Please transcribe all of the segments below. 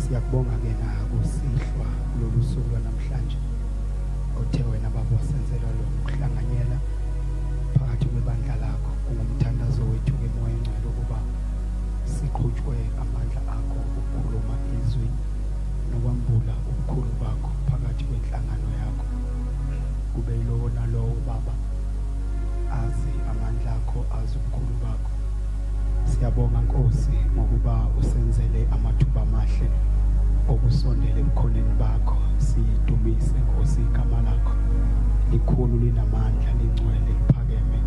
Siyakubonga-ke nakusihlwa kulolu suku lwanamhlanje othe wena baba wasenzelwa lo kuhlanganyela phakathi kwebandla lakho kungumthandazo wethu-ke moya engcwele ukuba siqhutshwe amandla akho ukukhuluma izwi nokwambula ubukhulu bakho phakathi kwenhlangano yakho kube yilowo nalowo baba azi amandla akho azi ubukhulu bakho Siyabonga Nkosi ngokuba usenzele amathuba amahle okusondela ebukhoneni bakho sidumise Nkosi igama lakho likhulu linamandla lingcwele liphakeme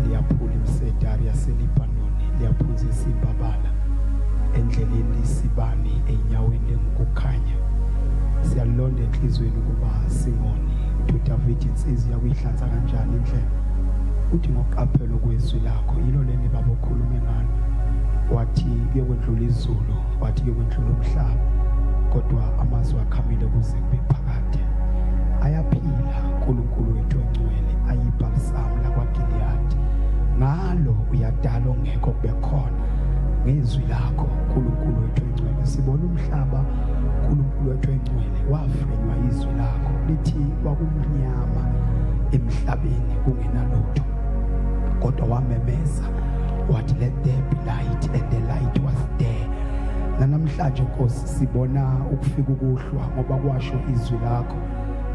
liyaphula imisedari yaseLibanoni liyaphunzisa imbabala endleleni isibani enyaweni lengukukhanya siyalonda enhlizweni ukuba singoni to David insizwa kuyihlanza kanjani indlela Uthi ngokuqaphela okwezwi lakho yilo leni baba okhulume ngalo wathi kuyokwendlula izulu wathi kuyokwendlula umhlaba kodwa amazwi akhamile kuze kube phakade ayaphila uNkulunkulu wethu ongcwele ayibhalisamu lakwaGiliyadi ngalo uyadala ongekho kube khona ngezwi lakho uNkulunkulu wethu ongcwele sibona umhlaba uNkulunkulu wethu ongcwele wafrenywa izwi lakho lithi kwakumnyama emhlabeni kungenalutho kodwa wamemeza wathi let there be light and the light was there nanamhlanje nkosi sibona ukufika ukuhlwa ngoba kwasho izwi lakho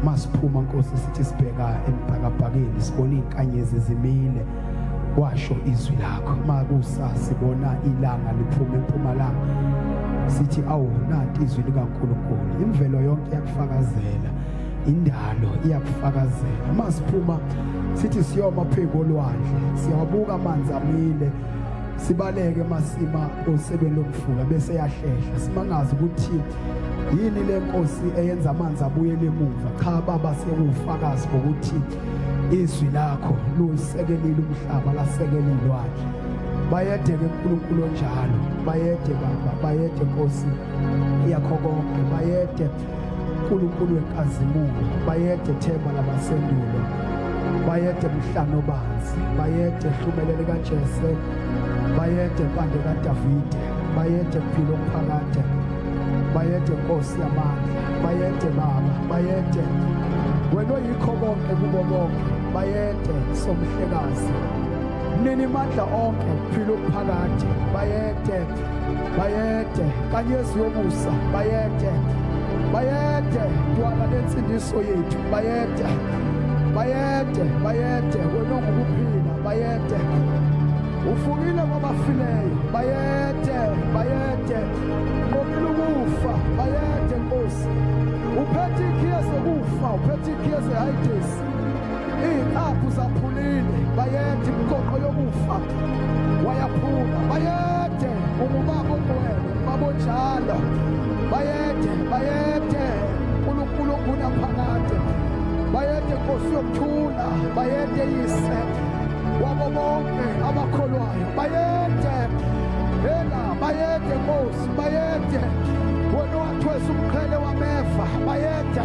masiphuma nkosi sithi sibheka emphakabhakeni sibona izinkanyezi zimile kwasho izwi lakho makusa sibona ilanga liphuma empumalanga sithi awu nanti izwi likaNkuluNkulu imvelo yonke yakufakazela indalo iyakufakazela uma siphuma sithi siyoma phezu kolwandle siyawabuka amanzi amile sibaleke masima osebeni lomfula bese yahlehla simangazi ukuthi yini le nkosi eyenza amanzi abuyele emuva cha baba siyewufakazi bokuthi izwi lakho luyisekelile umhlaba lasekele ilwandle bayede ke uNkulunkulu onjalo bayede baba bayede Nkosi yakho konke bayede uNkulunkulu wenkazimulo bayede themba labasendulo bayede mhlano banzi bayede hlumelele kaJese bayede mpande kaDavide bayede mpilo omphakade bayede nkosi yamandla bayede baba bayede wena oyikho konke kubo bonke bayede somhlekazi nini mandla onke phila uphakade bayede bayede kanyezi yomusa bayede bayede ntwana lensindiso yethu bayede bayede bayede wena ongukuphila bayede ufukile kwabafileyo bayede bayede nqobile ukufa bayede nkosi uphethe ikhiye zokufa uphethe ikhiye zehayidesi Iziqaphu zaphulile bayede imgoqo yokufa wayaphuma bayede ungubaba ungwele babonjalo bayede bayede uNkulunkulu oguna phakade bayede Nkosi yokuthula bayede yise wabo bonke abakholwayo bayede hela bayede Nkosi bayede wena wathwesa umqhele wamefa bayede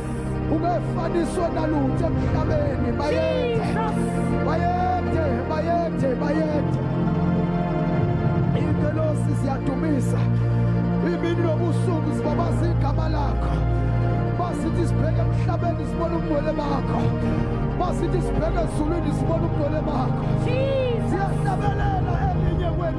ungefaniswe nalutho emhlabeni bayethe bayethe bayethe bayethe ingelosi ziyadumisa imini nobusuku zibabaza igama lakho masithi sibheke emhlabeni sibona ubungcwele bakho masithi sibheke ezulwini sibona ubungcwele bakho siyahlabelela elinye kwenu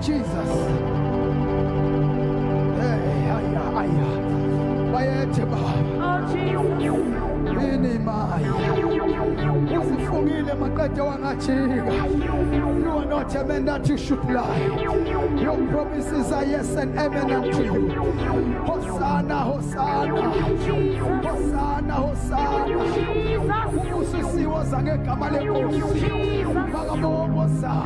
Jesus. Hey, haya, haya. Bayethe baba. Oh Jesus. Yini maya. Usifungile maqede wangajika. You are not a man that you should lie. Your promises are yes and amen unto you. Hosanna, Hosanna. Hosanna, Hosanna. Usisiwoza ngegama lenkosi. Bakaboboza.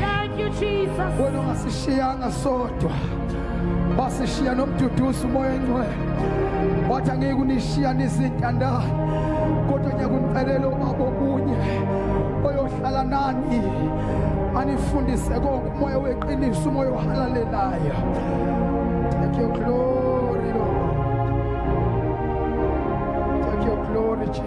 Thank you Jesus. Wena ungasishiyanga sodwa. Wasishiya nomduduzi umoya engcwele. Wathi angeke unishiya nizintandane. Kodwa ngiyakuncelela ubaba okunye oyohlala nani anifundise konke umoya weqiniso umoya ohalalelayo. Thank you glory Lord. Thank you glory Jesus.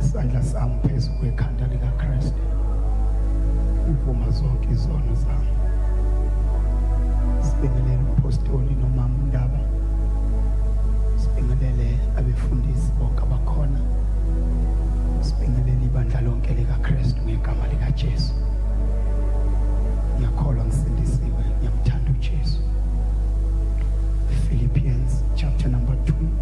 isandla sami phezu kwekhanda likaKristu ngivuma zonke izono zami sibingelele umpostoli nomama undaba sibingelele abefundisi bonke abakhona sibingelele ibandla lonke likaKristu ngegama likaJesu ngiyakholwa ngisindisiwe ngiyamthanda uJesu Philippians chapter number 2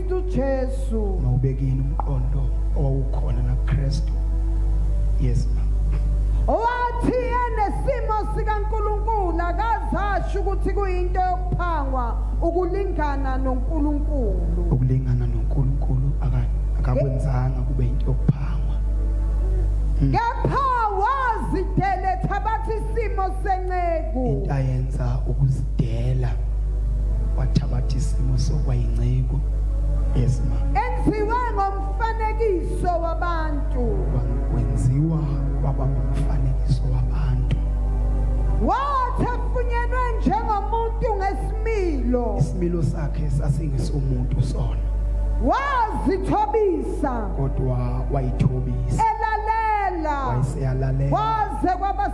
Kristu Jesu. Mawubekini umqondo owawukhona na Kristu. Yes ma. Owathi enesimo sikaNkuluNkulu akazasho ukuthi kuyinto yokuphangwa ukulingana noNkuluNkulu. Ukulingana noNkuluNkulu akakwenzanga kube into yokuphangwa. Hmm. Kepha wazideletha bathi isimo senceku into ayenza ukuzidela wathabatha isimo sokwayinceku yesima enziwe ngomfanekiso wabantu wenziwa kwaba ngumfanekiso wabantu wathi afunyenwe njengomuntu ngesimilo isimilo sakhe sasingesomuntu sona wazithobisa kodwa wayithobisa elalela wayeseyalalela waze kwaba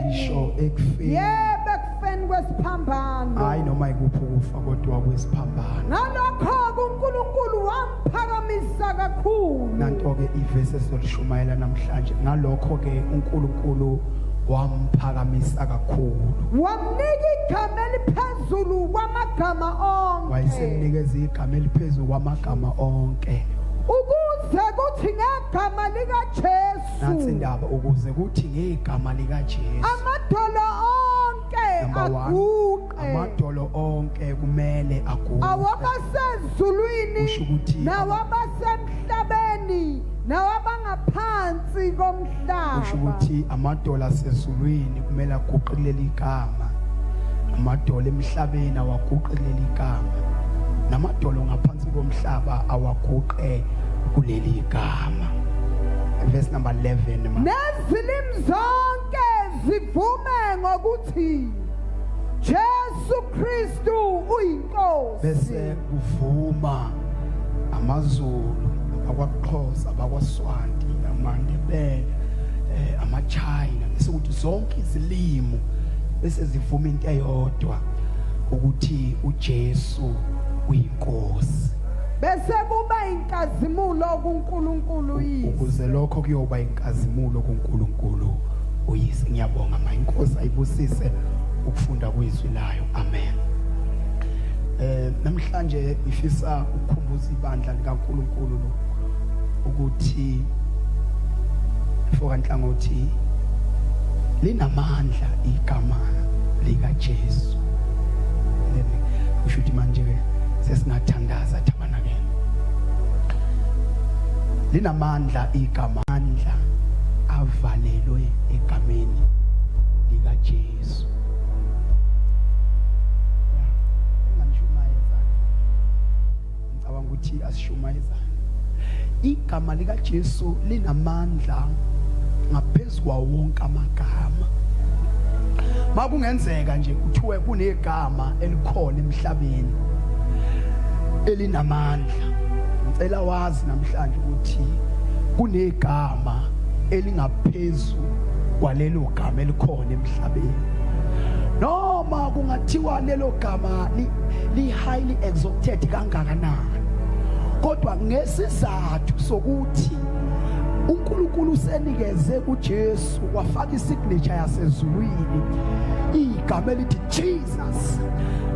ngisho ekufeni yebo ekufeni kwesiphambano hayi noma ikuphi ukufa kodwa kwesiphambano ngalokho-ke unkulunkulu wamphakamisa kakhulu nanto-ke ivesi esizolishumayela namhlanje ngalokho-ke unkulunkulu wamphakamisa kakhulu wamnika igama eliphezulu kwamagama onke wayesemnikeza igama eliphezulu kwamagama onke ukuze kuthi ngegama likajesu nansi indaba ukuze kuthi ngegama likaJesu amadolo onke aguqe amadolo onke kumele aguqe awabasezulwini nawabasemhlabeni nawabangaphansi komhlaba kusho ukuthi amadolo asezulwini kumele aguqe kuleli gama amadolo emhlabeni awaguqe kuleli gama namadolo ngaphansi komhlaba awaguqe kuleli gama verse number 11 ma nezilimi zonke zivume ngokuthi Jesu Kristu uyinkosi bese kuvuma amazulu abakwaXhosa abakwaSwanti amaNdebele eh amaChina bese kuthi zonke izilimo bese zivuma into eyodwa ukuthi uJesu uyinkosi Bese kuba inkazimulo kuNkulunkulu uyise. Ukuze lokho kuyoba inkazimulo kuNkulunkulu uyise. Ngiyabonga ma inkosi ayibusise ukufunda kwizwi layo. Amen. Eh namhlanje ngifisa ukukhumbuza ibandla likaNkulunkulu lo ukuthi foka nhlangothi linamandla igama likaJesu. Then ushuthi manje ke sesingathandaza tabanakele linamandla igama amandla avalelwe egameni likaJesu ngicabanga ukuthi asisho igama likaJesu linamandla ngaphezu kwawo wonke amagama makungenzeka nje kuthiwe kunegama elikhona emhlabeni elinamandla ngicela wazi namhlanje ukuthi kunegama elingaphezu kwalelo gama elikhona emhlabeni noma kungathiwa lelo gama li highly exalted kangakanani kodwa ngesizathu sokuthi uNkulunkulu usenikeze kuJesu wafaka isignature yasezulwini igama elithi Jesus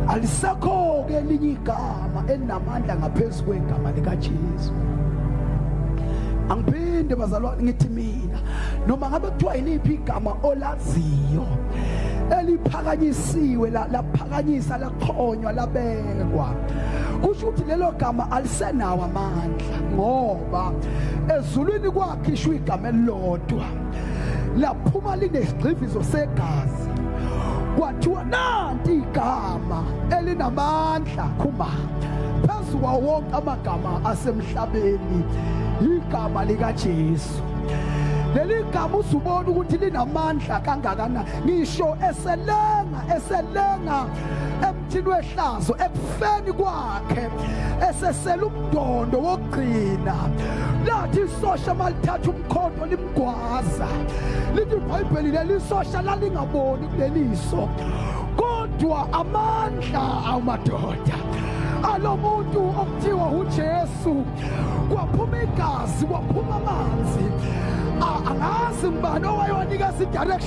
alisekho ke elinye igama elinamandla ngaphezulu kwegama likaJesu angiphinde bazalwane ngithi mina noma ngabe kuthiwa yiliphi igama olaziyo eliphakanyisiwe laphakanyisa la khonywa labekwa kusho ukuthi lelo gama alisenawo amandla ngoba ezulwini kwakhishwa igama elilodwa laphuma linesigxivizo segazi kwathiwa nanti igama elinamandla khuma phezu kwawo wonke amagama asemhlabeni igama likaJesu leli gama usubona ukuthi linamandla kangakanani ngisho eselenga eselenga emthini wehlazo ekufeni kwakhe esesela umdondo wokugcina lathi isosha malithatha umkhonto limgwaza lithi ibhayibheli leli isosha lalingaboni kuleliso kodwa amandla awumadoda alo muntu okuthiwa uJesu kwaphuma igazi kwaphuma amanzi angazi ngibani owayewanikeza idirection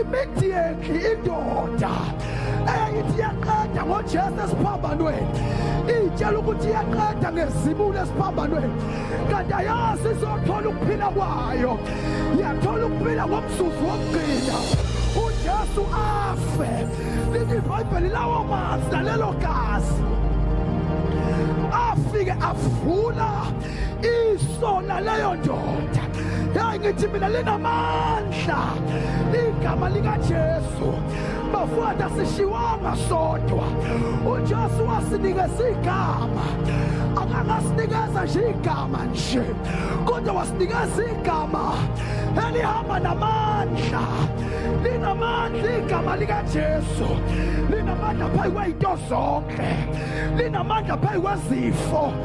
immediately indoda eyayithi iyaqeda ngojesu esiphambanweni iyitshela ukuthi iyaqeda ngezibulo esiphambanweni kanti ayazi izothola ukuphila kwayo yathola ukuphila ngomzuzu wokugcina ujesu afe lithi ibhayibheli lawo mazwi nalelo gazi afike avula isona leyo ndoda yayi ngithi mina linamandla igama likajesu bafowethu asishiwanga sodwa ujesu wasinikeza igama akangasinikeza nje igama nje kodwa wasinikeza igama elihamba namandla linamandla igama likajesu linamandla phezu kwey'nto zonke linamandla phezu kwezifo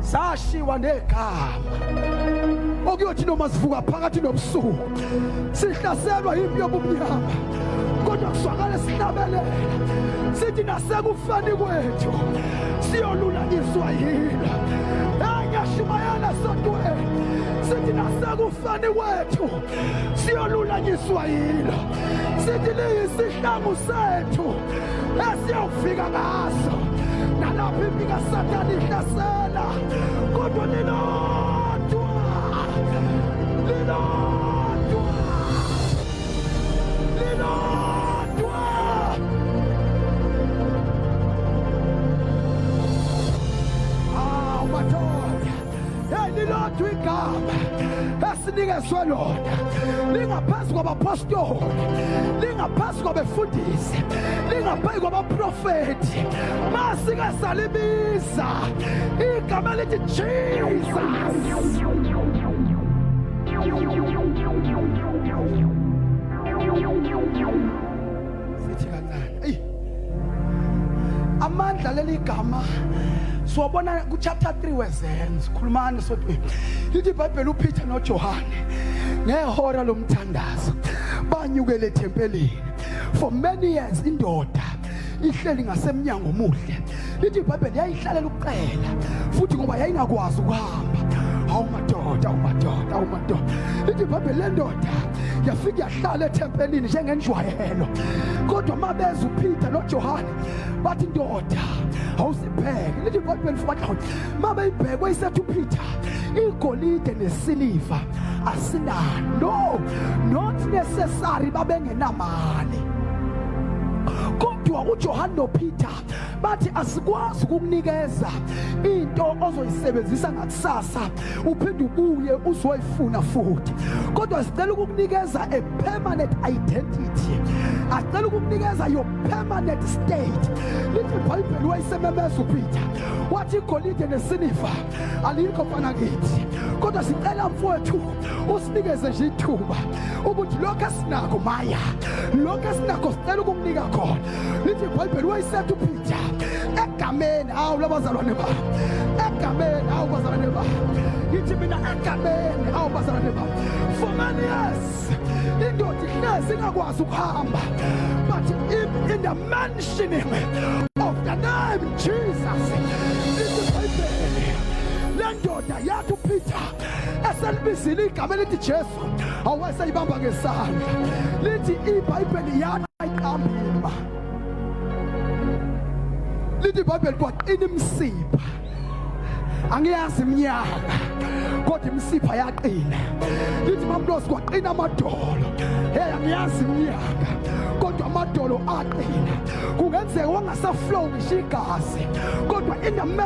sashiwa negama okuyothi noma sivuka phakathi nobusuku sihlaselwa yimpi yobumnyama kodwa kuzwakale sinabelela sithi nasekufeni kwethu siyolulanyiswa yilo engiyashumayela sodweni sithi nasekufeni kwethu siyolulanyiswa yilo sithi liyisihlangu sethu esiyofika ngaso nalapho impi kasathane ihlasela kodwa lilodwa lilodwa lilodwa awu madoda elilodwa igama esinikezwe lona lingaphansi kwabapostoli lingaphansi kwabefundisi lingaphansi kwabaprofethi masike salibiza igama elithi jesus sithi kancane eyi amandla leli gama siwabona kuchapter 3 wezenzo khulumani sodwa lithi ibhayibheli upeter nojohane ngehora lomthandazo banyukele ethempelini for many years indoda ihleli ngasemnyango omuhle lithi ibhayibheli yayihlalela ukuqela futhi ngoba yayingakwazi ukuhamba hawu madoda umadoda umadoda lithi ibhayibheli lendoda yafike yahlala ethempelini njengenjwayelo kodwa uma beza upeter nojohane bathi ndoda awusibheke lithi ibhayibheli futhi uma beyibhekwe isethu upeter igolide nesiliva asinalo no not necessary babengenamali kodwa uJohane noPeter bathi asikwazi ukukunikeza into ozoyisebenzisa ngakusasa uphinde ubuye uzoyifuna futhi kodwa sicela ukukunikeza a permanent identity acela ukukunikeza your permanent state lithi ibhayibheli wayisememeza upeter wathi igolide nesiliva alikho mfana kithi kodwa sicela mfowethu usinikeze nje ithuba ukuthi lokho esinako maya lokho esinako sicela ukukunika khona lithi ibhayibheli wayesetha uphitha egameni awu labazalwane ba egameni awu bazalwane ba ngithi mina egameni awu bazalwane ba for many years indoda ihlezi ingakwazi ukuhamba but in, in the mentioning of the name jesus lithi ibhayibheli le ndoda yathi uphitha eselibizile igama elithi jesu awasayibamba ngesandla lithi ibhayibheli yana iqambima lithi ibhayibheli kwaqina imsipha angiyazi iminyaka kodwa imisipha yaqina lithi mamlosi kwaqina amadolo hey angiyazi iminyaka kodwa amadolo aqina kungenzeka wangasaflow ngisho igazi kodwa in the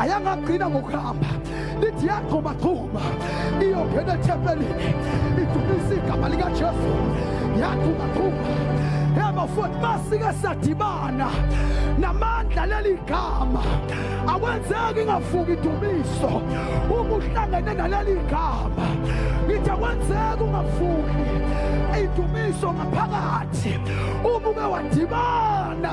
ayangagcina ngokuhamba lithi yagxumagxuma iyongena ethempelini idumisa igama likajesu yagxumagxuma hema futhi masike sadibana namandla leli gama akwenzeki ingafuki idumiso uma uhlangene naleli gama ngithi akwenzeki ungafuki idumiso ngaphakathi uma uke wadibana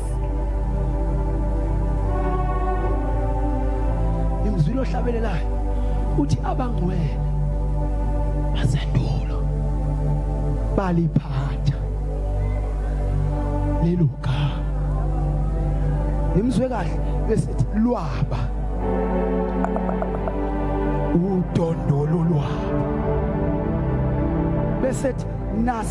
ngimzwile ohlabelelayo uthi abangcwele basendulo baliphatha lelo gama ngimzwe kahle besithi lwaba udondolo lwaba besethi nas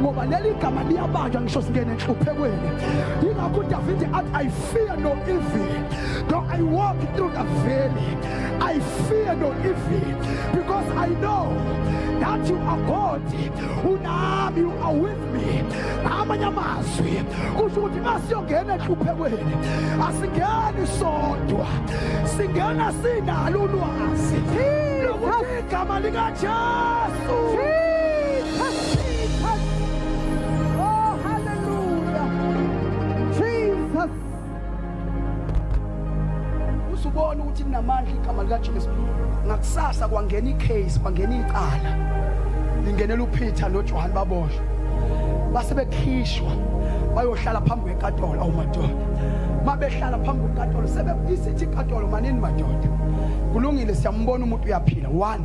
ngoba leli gama liyabanjwa ngisho singene enhluphekweni yingakho udavide athi i fear no evil though i walk through the valley i fear no evil because i know that you are god unami you are with me amanye amazwi kusho ukuthi uma siyongena enhluphekweni asingeni sodwa singena sinalo ulwazi lokuthi igama likajesu uzubona ukuthi linamandla igama likajesu ngakusasa kwangena icase kwangena icala lingenela upeter nojohane baboshwa base bekhishwa bayohlala phambi kwekatolo awumadoda uma behlala phambi kwekatolo sebesithi ikatolo manini madoda kulungile siyambona umuntu uyaphila one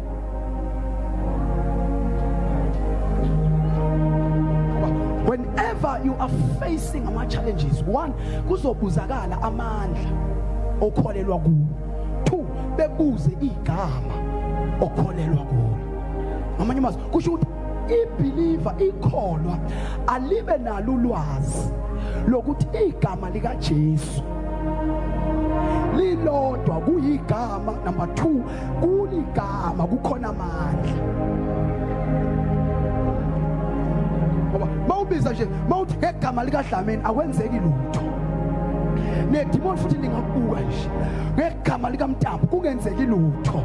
whenever you are facing ama challenges one kuzobuzakala amandla okholelwa kuwo two bebuze igama okholelwa kuwo ngamanye amazwi kusho ukuthi ibeliever ikholwa alibe nalo ulwazi lokuthi igama likaJesu lilodwa kuyigama number 2 kuligama kukhona amandla ngoba mawubiza nje mawuthi ngegama likadlamini akwenzeki lutho nedimoni futhi ndingakubuka nje ngegama likamntambo kungenzeki lutho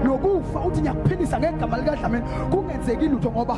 nokufa uthi ngiyakuphilisa ngegama likadlamini kungenzeki lutho ngoba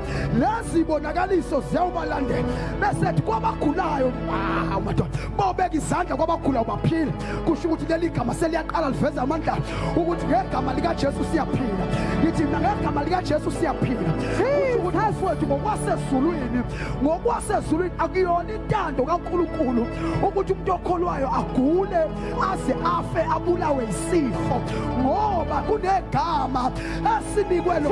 lezi bonakaliso ziyawubalandela bese ethi kwabagulayo ah, madoda bawubeka izandla kwabagulayo baphila kusho ukuthi leli gama seliyaqala liveza amandla ukuthi ngegama likajesu siyaphila ngithi mina ngegama likajesu siyaphila umthazi wethu ngokwasezulwini ngokwasezulwini akuyona intando kankulunkulu ukuthi umuntu okholwayo agule aze afe abulawe yisifo ngoba kunegama esinikwe lo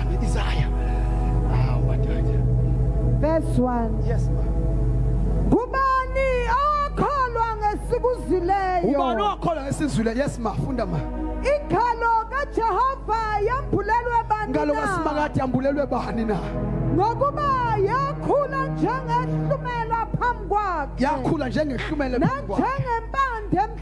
The desire. Ah, what Verse 1. Yes, ma. Ngubani okholwa ngesikuzileyo? Ubani okholwa ngesizwileyo? Yes, ma. Funda ma. Ikhalo kaJehova yambulelwe bani na? Ngalo kaSimakade yambulelwe bani na? Ngokuba yakhula njengehlumela phambi kwakhe. Yakhula njengehlumela phambi kwakhe. Nanjengempande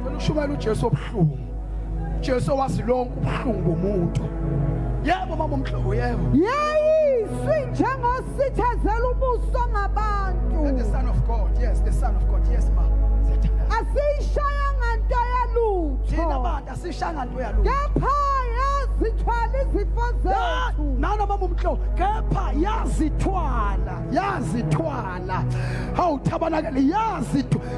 Ngicela ushumela uJesu obuhlungu. Jesu wazi lonke ubuhlungu bomuntu. Yebo mama umhlobo yebo. Yayizwi njengosithezela ubuso ngabantu. And the son of God. Yes, the son of God. Yes ma. Siyathandana. Asiyishayanga nto Thina yalutho. bantu asishanga nto yalo. Kepha yazithwala izifo zethu. Nana mama umhlobo kepha yazithwala, yazithwala. Hawu tabanakele yazithwala.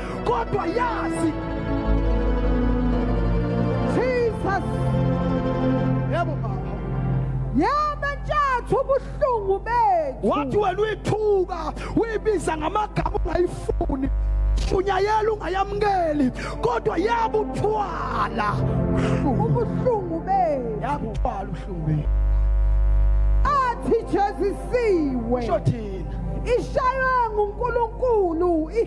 kodwa yazi Jesus yebo baba yaba ntshathu ubuhlungu bethu wathi wena uyithuka uyibiza ngamagama ungayifuni shunyayela ungayamukeli kodwa yabuthwala ubuhlungu bethu yabuthwala ubuhlungu bethu athi jezisiwe shothina ishaywe nguNkulunkulu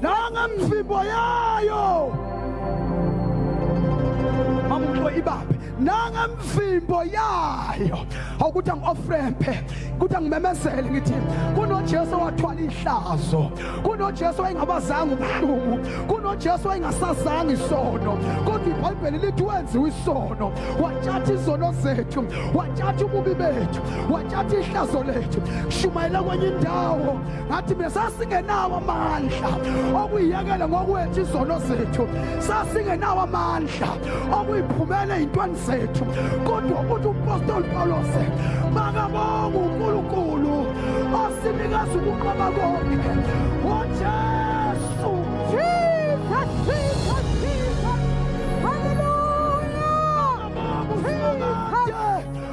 nangemvimbo yayo mamuklo ibambe nangemvimbo yayo awukuthi angi-ofrempe kuthi angimemezele ngithi kunojesu wathwala ihlazo kunojesu wayengabazanga ubuhlungu kunojesu wayengasazanga isono kodwa ibhayibheli lithi wenziwa isono watshatha izono zethu watshatha ububi bethu watshatha ihlazo lethu shumayela kwenye indawo ngathi mina sasingenawo amandla okuyiyekela ngokwethu izono zethu sasingenawo amandla okuyiphumela ey'ntweni zethu kodwa ukuthi umpostoli pawulose makabonga unkulunkulu osinikeza ukuqoba konke ujesu jesus jesus jesus haleluya jesus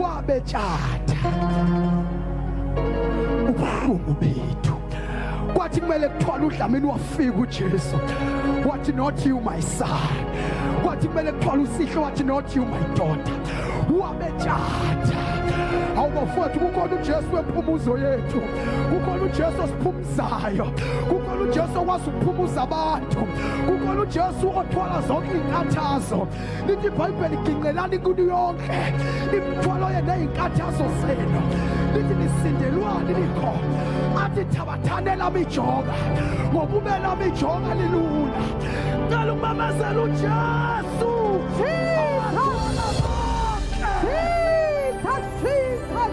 wabetshata ubuhlungu bethu kwathi kumele kuthwala udlamini wafika ujesu wathi not you my son wathi kumele kuthwala usihle wathi not you my daughter wabetshata awubafowethu kukhona ujesu wephumuzo yethu kukhona ujesu zayo kukhona uJesu okwazi ukuphumuza abantu kukhona uJesu othwala zonke izinkathazo lithi iBhayibheli ginqelani kuyo yonke imithwalo yenu nezinkathazo zenu lithi nisindelwani likho athi thabathanela mijoka ngobubela mijoka lilula cela umamezela uJesu Jesus Jesus Jesus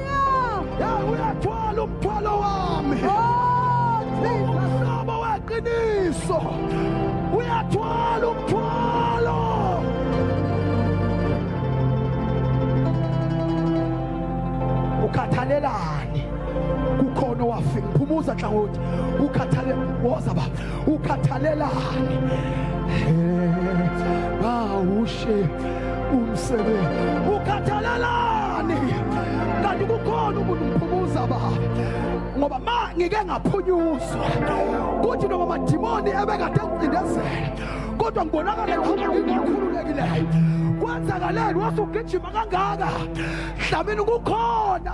uyathwala umthwalo wami umhlobo oh, weqiniso uyathwala umthwalo ukhathalelani kukhona owafika phumuza nhlangothi ukhathale woza baba ukhathalelani bawushe umsebenzi ukhathalelani kanti kukhona umuntu mphumuza ba ngoba ma ngike ngaphunyuzwa kuthi noma madimoni ebekade ngicindezela kodwa ngibonakala ngihamba ngingakhululekileyo kwenzakaleni wasugijima kangaka dlamini kukhona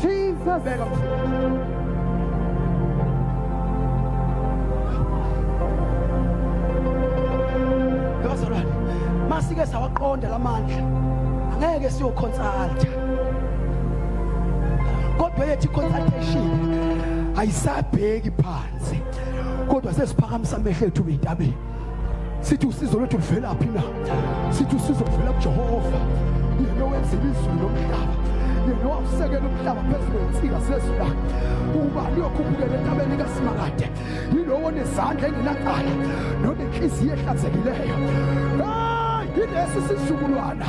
Jesus. Beka. Bazalwane, masike sawaqonda lamandla. Angeke siyoconsulta. Kodwa yethi consultation ayisabheki phansi. Kodwa sesiphakamisa amehlo ethu entabeni. sithi usizo lwethu luvelaphi na sithi usizo luvela kujehova yena owenzile izulu nomhlaba yena owawusekela umhlaba phezu kwensika sezula uba liyokhuphukela entabeni likasimangade yilowo nezandla engenacala nonenhliziyo ehlanzekileyo hayi yilesi sizukulwana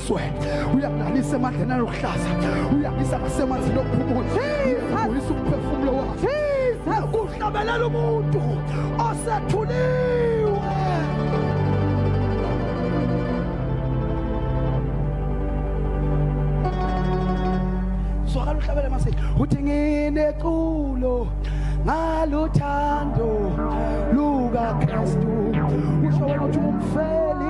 Swe, uyakulalisa emadleni aluhlaza, uyakisa ngasemanzini okuphumula, uyisa umphefumulo wakhe, kuhlabelela umuntu osethuliwe. Zwakala uhlabele mase, uthi ngineculo ngaluthando lukaKristu, usho wena uthi umfeli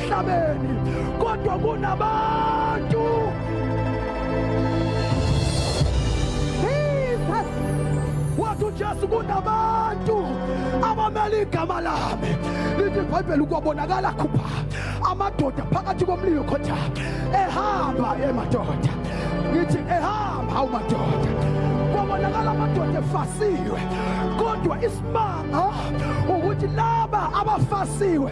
emhlabeni kodwa kunabantu wathi ujesu kunabantu abamele igama lami lithi ibhayibheli kwabonakala khupha amadoda phakathi komlilo khotha ehamba emadoda ngithi ehamba hawu madoda kwabonakala amadoda efasiwe kodwa isimanga ukuthi laba abafasiwe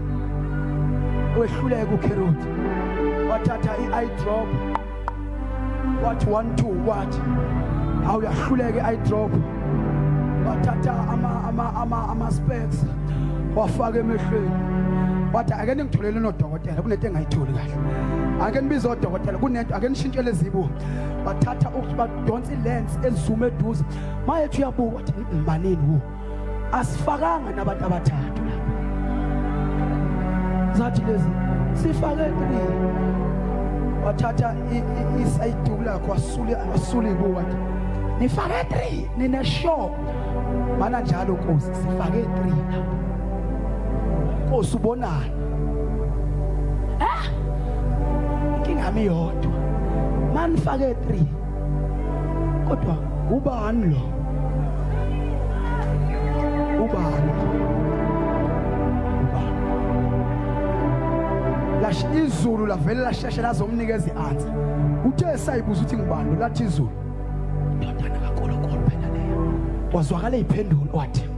wehluleka ukheruthi wathatha i-eye drop wathi one two wathi awuyahluleka i-eye drop wathatha ama-specs wafaka emehlweni wathi ake ningitholele nodokotela kunento engayitholi kahle ake nibize odokotela kunento ake nishintshele ezibu bathatha badonsa ilens ezuma eduze mayethi uyabuka wathi manini wo asifakanga nabantu abathathu zathi lezi sifake three wathatha isayiduku lakho wasule wasule kuwathi nifake three nina show mana njalo nkosi sifake three nkosi ubonani eh inkinga mi yodwa manifake three kodwa ubani lo ubani ubani lash izulu lavele lasheshe lazomnikeza i-answer uthe esayibuza ukuthi ngubani lathi izulu indodana kankulunkulu phela leyo wazwakala iphendulo wathi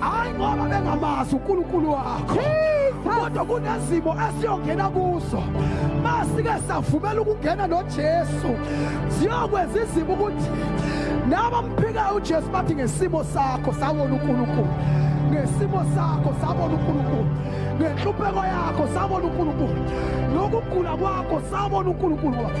hayi ngoba bengamazi uNkulunkulu wakho kodwa kunezimo esiyongena kuzo masike savumela ukungena noJesu ziyokwenza izimo ukuthi nabamphikayo uJesu bathi ngesimo sakho sabona uNkulunkulu ngesimo sakho sabona uNkulunkulu ngenhlupheko yakho sabona uNkulunkulu nokugula kwakho sabona uNkulunkulu wakho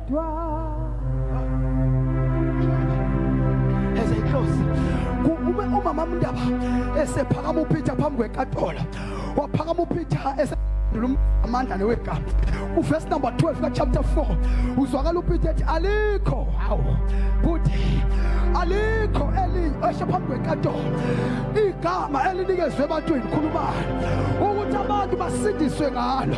umama mndaba esephakama uphitha phambi kwekatola waphakama uphitha ese amandla newegama uvesi number 12 kachapter 4 uzwakala upite ethi alikho hawu kuthi alikho esho phambi kwenkantolo igama elinikezwe ebantwini khulumani ukuthi abantu basindiswe ngalo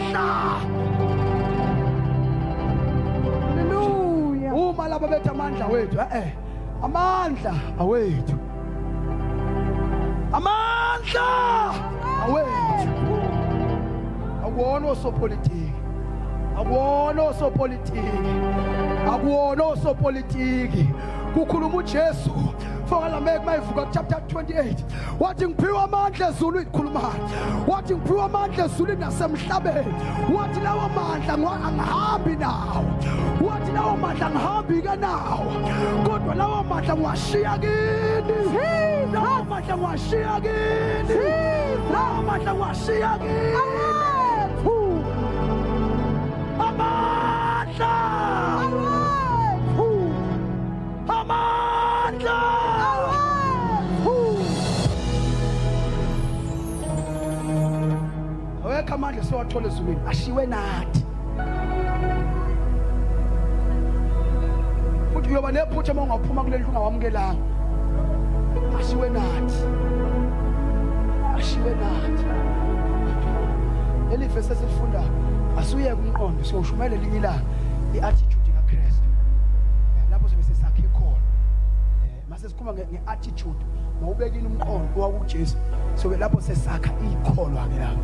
Hallelujah. Uma laba bethi amandla wethu eh, eh amandla awethu. Amandla awethu. Akuwona osopolitiki. Akuwona osopolitiki. Akuwona osopolitiki. Kukhuluma uJesu. Fokala make mayivuka chapter 28. wathi ngiphiwe amandla ezulwini khuluma wathi ngiphiwe amandla ezulwini nasemhlabeni wathi lawo mandla angihambi nawo wathi lawo mandla angihambi ke nawo kodwa lawo mandla ngiwashiya kini lawo mandla ngiwashiya kini lawo mandla ngiwashiya kini amandla awekho amandla siwathola ezulwini ashiwe nathi futhi uyoba nephutha uma ungaphuma kuleli ungawamukelanga ashiwe nathi ashiwe nathi leli vesi esifundayo asuyeke umqondo siyoshumayela elinye ilanga i-attitude kaKristu eh, lapho sobe sesakhe khona eh, mase sikhuluma nge-attitude mawubekile umqondo kwakuJesu sobe lapho sesakha ikholwa ke lapho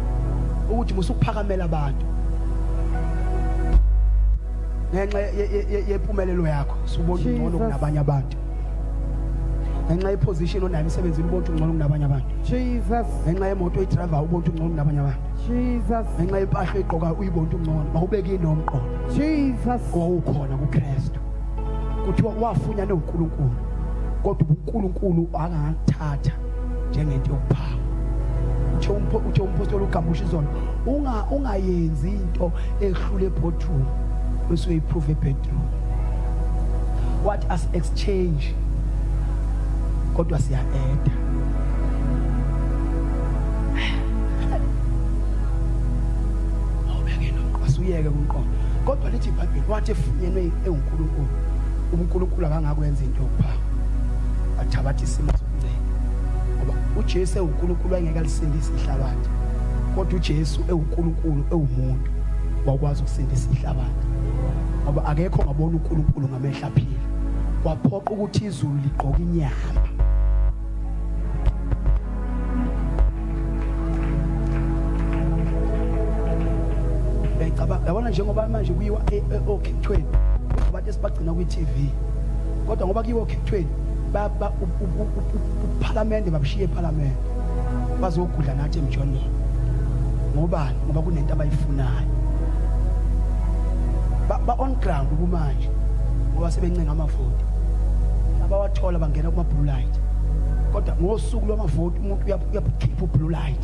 ukuthi musukuphakamela abantu ngenxa yempumelelo yakho subona ungcono kunabanye abantu ngenxa yeposition onayo emsebenzini ubona ungcono kunabanye abantu ngenxa yemoto oyidrivayo ubona ungcono kunabanye abantu Jesus. ngenxa yempahla egqoka uyibona ungcono mawubeke inomqondo Jesus. wawukhona kuKristu kuthiwa wafunyana uNkulunkulu kodwa uNkulunkulu angathatha njengento yokuphanga uthe umpho uthe umpostoli uGambusha izolo unga ungayenzi into ehlule boardroom bese uyiprove bedroom what us exchange kodwa siya eda asuyeke kumqondo kodwa lithi ibhayibheli wathi efunyenwe ewunkulunkulu unkulunkulu akangakwenza into yokuphanga athabathe isimo sokuncela ngoba ujesu ewunkulunkulu ayengeke alisindise ihlabathi kodwa ujesu ewunkulunkulu ewumuntu wakwazi ukusindisa ihlabathi ngoba akekho ngabona unkulunkulu ngamehla phila kwaphoqa ukuthi izulu ligqoke inyama yabona njengoba manje kuyiwa e, e, okhethweni abantu esibagcina kwi-tv kodwa ngoba kuyiwa okhethweni uphalamende babushiye ephalamende bazogudla nathi emjondolo ngobani ngoba kunento abayifunayo ba-on ground kumanje ngoba sebencenga amavoti thola bangena kuma blue light kodwa ngosuku lwamavoti umuntu uyakhipha ublue light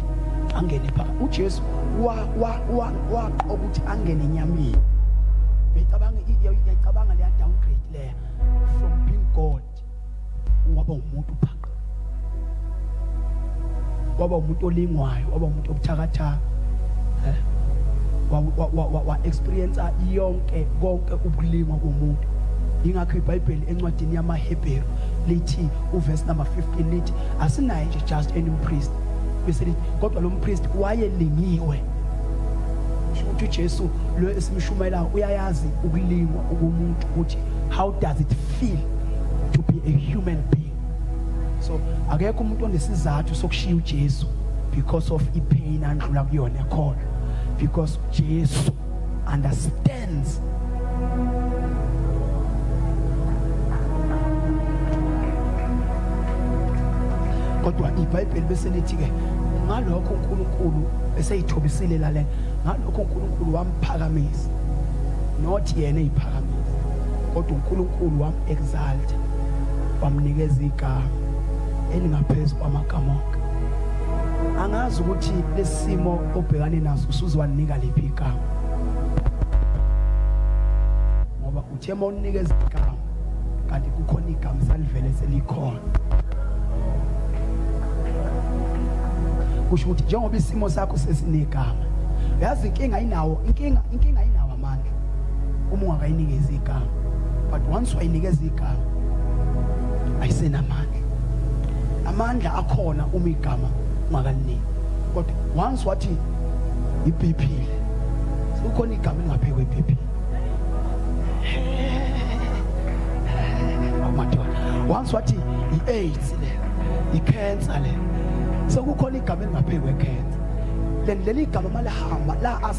angene phakathi uJesu wa wa wa waqoka ukuthi angene enyameni becabanga iyacabanga leya downgrade leya from being God waba umuntu phakathi waba umuntu olingwayo waba umuntu obuthakathaka eh? wa-experiensa yonke konke ubulingwa komuntu yingakho ibhayibheli encwadini yamahebheru lithi uvesi number 15 lithi asinaye nje just any mpriest bese lithi kodwa lo mpriest wayelingiwe ukuthi ujesu lo esimshumayelayo uyayazi ukulingwa ukumuntu ukuthi how does it feel to be a human being so akekho umuntu onesizathu sokushiya uJesu because of ipain andlula kuyona ekhona because Jesu understands kodwa ibhayibheli bese lithi ke ngalokho uNkulunkulu eseyithobisile la lena ngalokho uNkulunkulu wamphakamisa not yena eyiphakamisa kodwa uNkulunkulu wam exalta wamnikeza igama elingaphezu kwamagama onke angazi ukuthi lesimo obhekane naso usuziwanika liphi igama ngoba uthe uma unikeza igama kanti kukhona igama salivele selikhona kusho ukuthi njengoba isimo sakho sesinegama yazi inkinga inawo inkinga inkinga uma ungakayinikezi igama but once wayinikeza igama ayisenamandla amandla akhona uma igama ungakalini kodwa once wathi ibhiphile sekukhona igama elingaphekwe ibhiphile awumadoda once wathi i-aids le i-cancer le sekukhona igama elingaphekwe cancer leli gama malihamba la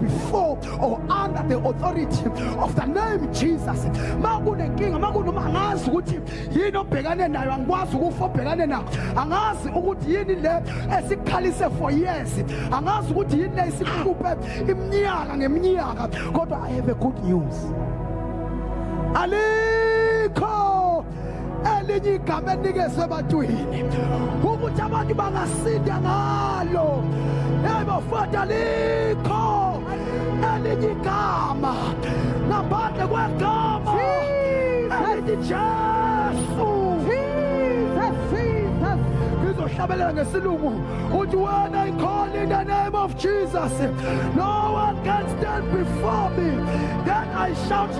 before or under the authority of the name Jesus ma kunenkinga ma kunoma angazi ukuthi yini obhekane nayo angikwazi ukufa obhekane nayo angazi ukuthi yini le esikhalise for years angazi ukuthi yini le isihluphe iminyaka ngeminyaka kodwa i have a good news alikho elinye igama elikezwe ebantwini ukuthi abantu bangasinda ngalo ebafata likho elinye igama ngaphandle kwegama elithi jesu ngizohlabelela ngesilungu uthi when i call in the name of jesus no one can stand before me then i shout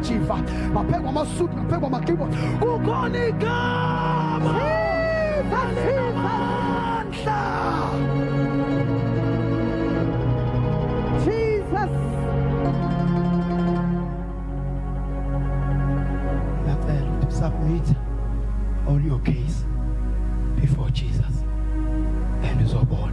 jiva maphekwa amasudu maphekwa amakibo kukhona igama elinamandla jesus ngiyacela ukuthi usubmithe all your case before jesus and uzobona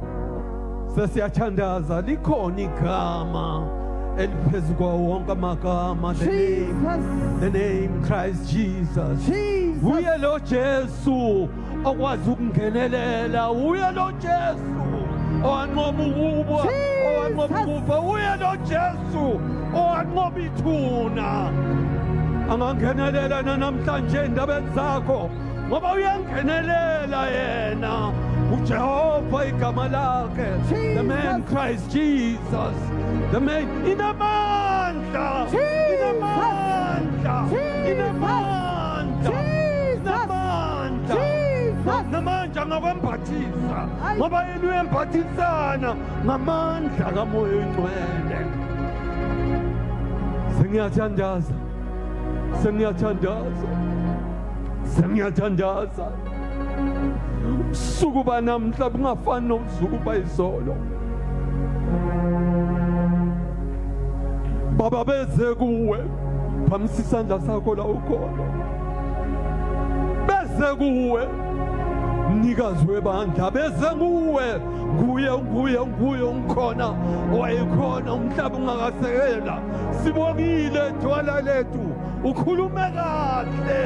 Sesiyathandaza likhona igama eliphezu kwawo wonke amagama the name, the name Christ Jesus. Jesus. Uye lo Jesu okwazi ukungenelela, uye lo Jesu owanqoba ukuba, owanqoba ukufa, uye lo Jesu owanqoba ithuna. Angangenelela nanamhlanje endabeni zakho. ngoba uyangenelela yena ujehova igama lakhe the man christ jesus the man inamandla inamandla inamandla inamandla namandla ngakwembathisa ngoba yena uyembathisana ngamandla kamoya oyingcwele sengiyathandaza sengiyathandaza sengiyathandaza ubusuku banamhla bungafani nobusuku bayizolo baba beze kuwe phamisa isandla sakho la ukhona beze kuwe mnikazi webandla beze kuwe nguye nguye nguye ungikhona wayekhona umhlaba ungakasekela sibongile dwala lethu ukhulume kahle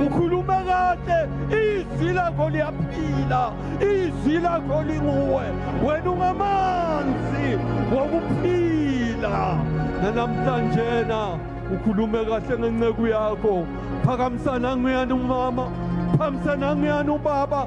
ukhulume kahle izwi lakho liyaphila izwi lakho linguwe wena ungamanzi wokuphila nanamhlanjena ukhulume kahle ngenceku yakho phakamisana nguyani umama phakamisana nguyani ubaba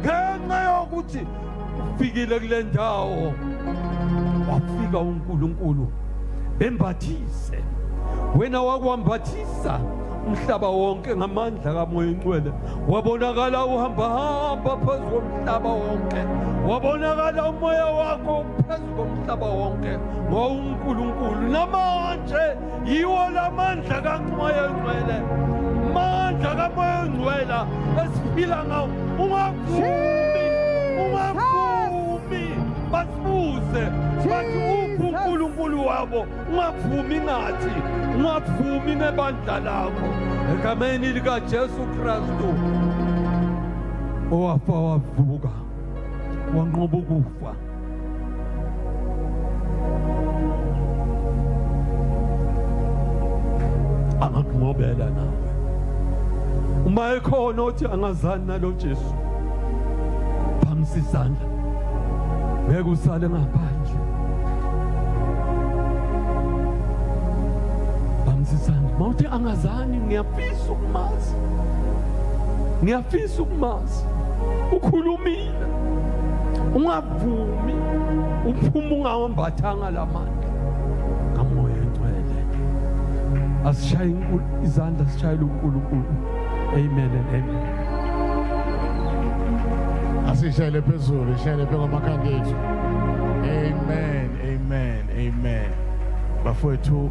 ngenxa yokuthi ufikile kule ndawo wafika uNkulunkulu bembathise wena wakwambathisa umhlaba wonke ngamandla kamoya ingcwele wabonakala uhambahamba phezu komhlaba wonke wabonakala umoya wakho phezu komhlaba wonke ngowunkulunkulu namanje yiwo la mandla kamoya oyingcwele mandla kamoya oyingcwela esiphila ngawo ungavumi ungavumi basibuze bathi uphi unkulunkulu wabo ungavumi ngathi ungavumi nebandla lakho egameni likajesu kristu owafa wavuka wanqoba ukufa angakunqobela nawe uma ekhona othi angazani nalo Jesu phamisa izandla ngeke usale ngaphandle phamisa izandla mawuthi angazani ngiyafisa ukumazi ngiyafisa ukumazi ukhulumile uphumile ungavumi uphuma ungawambathanga la mandla ngamoya engcwele asishaye izandla sishayele unkulunkulu amen and amen asishayele phezulu ishayele phe kwamakhanda ethu amen amen amen bafowethu